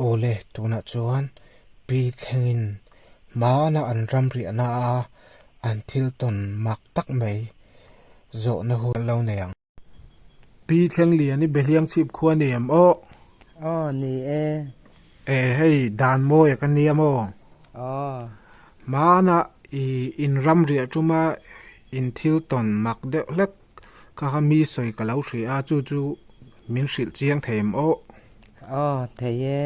Awle, tunah chuan pi thlengin hmana an ram riahna a an thil tawn mak tak mai zawhna hun lo nei ang. Pi thleng lian i Behliang chhip khua ni em aw? Aw, ni e. E, hei dan mawi a ka nia maw? Aw. Hmana i in ram riah tuma in thil tawn mak deuh hlek. Kha kha mi sawi ka lo hria a, chu chu min hrilh chiang thei em aw? Aw, thei e.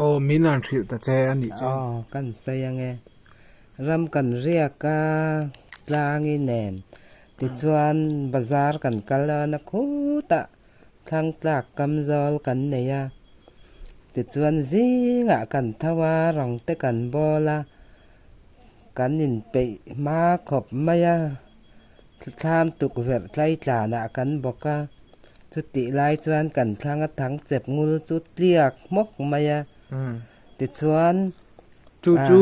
Aw, min an hrilh ta che a nih chuan. Aw, kan sawi ang e. Ram kan riak a, tlang i nen. Tichuan bazar kan kal a, na khutah Thangtlak kam zawl kan nei a. Tichuan zingah kan tho a, rangte kan bawl a, Kan inpeih hma khawp mai a, thlam tukverh tlaitlanah kan bawk a, chutih lai chuan kan thlang a thang chep ngul chu tliak hmawk mai a, tichuan. Chu chu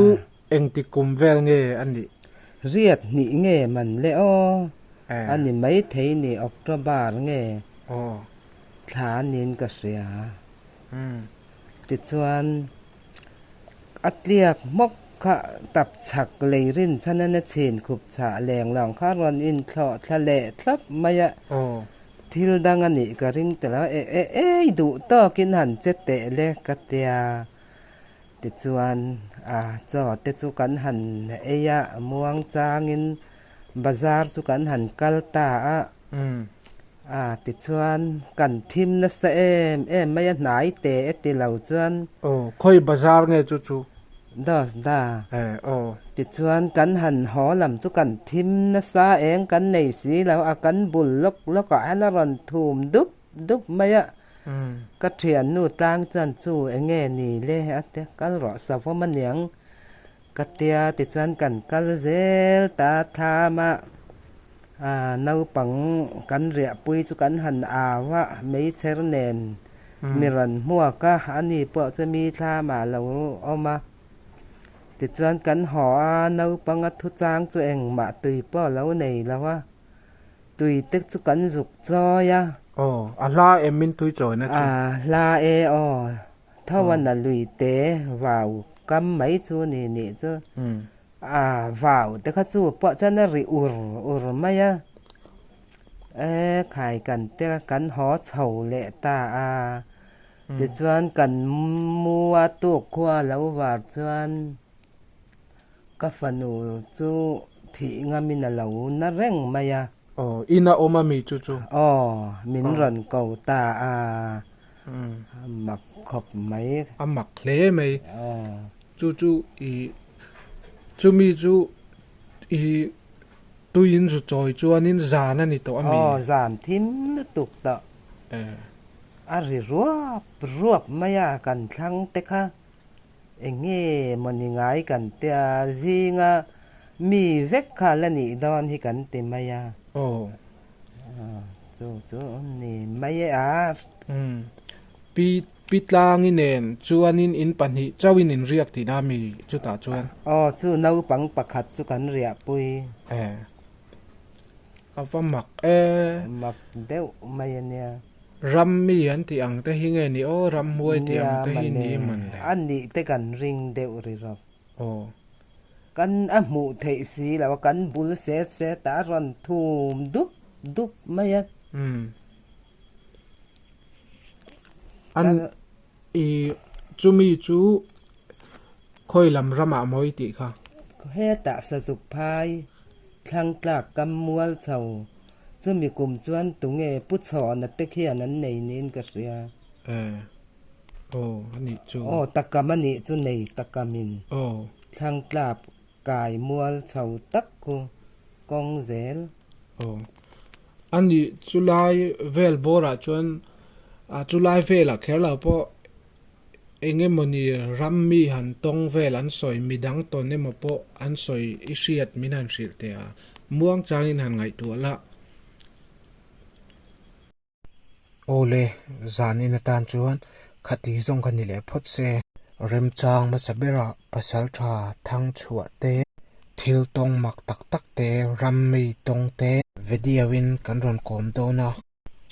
engti kum vel nge a nih? Riat hnih nge man le aw a ni maithei ni, October nge thla niin ka hria, tichuan. a tliak hmawk kha tap chhak lei rin chhan in a chhin khup chah leng lang kha rawn in thlawh thla leh thlap mai a, thil dang a nih ka ring ta lo e e ei duh tawk in han che teh le ka tia tichuan a chaw te chu kan han ei a muang chang in Bazar chu kan han kal ta a, ah tichuan kan thim nasa em em mai a hnai teh e ti lo chuan. Aw, khawi bazar nge chu chu? Dos da. Eh, aw. Tichuan kan han haw lam chu kan thim nasa eng kan nei si lo a, kan bul lawk lawk ah hian a rawn thum dup dup mai a. Ka thiannu tlang chuan chu enge ni le a ti a, kal rawh savawm aniang Ka tia tichuan kan kal zel ta tham a, aah naupang kan riahpui chu kan han au a, meichher nen mi rawn hmuak a, ani pawh chu mi thlam ah lo awm a, tichuan kan haw a, naupanga thu chang chu engmah tui pawh lo nei lo a, tui te chu kan zuk chawi a. Aw, a hla em min tuichawina chu. Aah hla e aw. Tho a na lui te vau kam mai chu ni nih chu a vau te kha chu pawh chuan a ri ur ur mai a, e khai kan te kan haw chho leh ta a, tichuan kan mu a tuk khua lo var chuan ka fanu chu thih ngam in a lo na reng mai a. Aw, in a awm a mi chu chu? Aw, min rawn ko ta a. A mak khawp mai. A mak hle mai. Chu chu i chumi chu i tuiin zu chawi chuanin zan a ni tawh a mi? Aw zan thim lutuk tawh. A ri ruap ruap mai a kan thlang te kha. Eng nge maw ni ngai kan tia zinga mi vek kha la nih dawn hi kan ti mai a. Aw Pi Tlangi nen chuanin in pahnih chauhin in riak tihna mi chutah chuan. Aw, chu naupang pakhat chu kan riahpui. E. A va mak e. Mak deuh mai a nia. Ram mi an tih ang te hi nge ni aw, Ramhuai tih ang te hi ni aman le. Nia, a nih te kan ring deuh ri rawk. aw. Kan a hmuh theih si lo a, kan bul set set ah a rawn thum dup dup mai a. Umm. An i chumi chu Khawilam ramah mawi tih kha. Hetah Sazuk phai Thlangtlak kam mual chho chumi kum chuan tunge pu chhawna te khian an nei niin ka hria. Ee. Aw a nih chu. Aw takam a nih chu nei takam in. Aw. Thlang tlap kai mual chho tak ku kawng zel. Aw a nih chu lai vel bawr ah chuan a chu lai vel ah kher lo pawh eng emaw ni ram mi han tawng vel an sawi mi dang tawn emaw pawh an sawi i hriat min han hrilh teh a muang chang in han ngaihtuah lah. Awle, zanin atan chuan kha ti zawng ka ni leh phawt se. Remchang hmasa bera pasal tha thang chhuah te, thil tawng mak tak tak te, ram mei tawng te. Video in kan rawn kawm dawn a.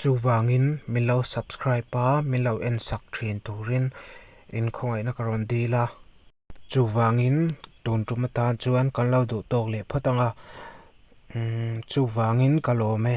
Chuvangin min lo subscribe a, min lo en sak thin turin in khawngaihna ka rawn dil a. Chuvangin tun tum atan chuan kan lo duh tawk leh phawt ang a. Umm chuvangin ka lawm e.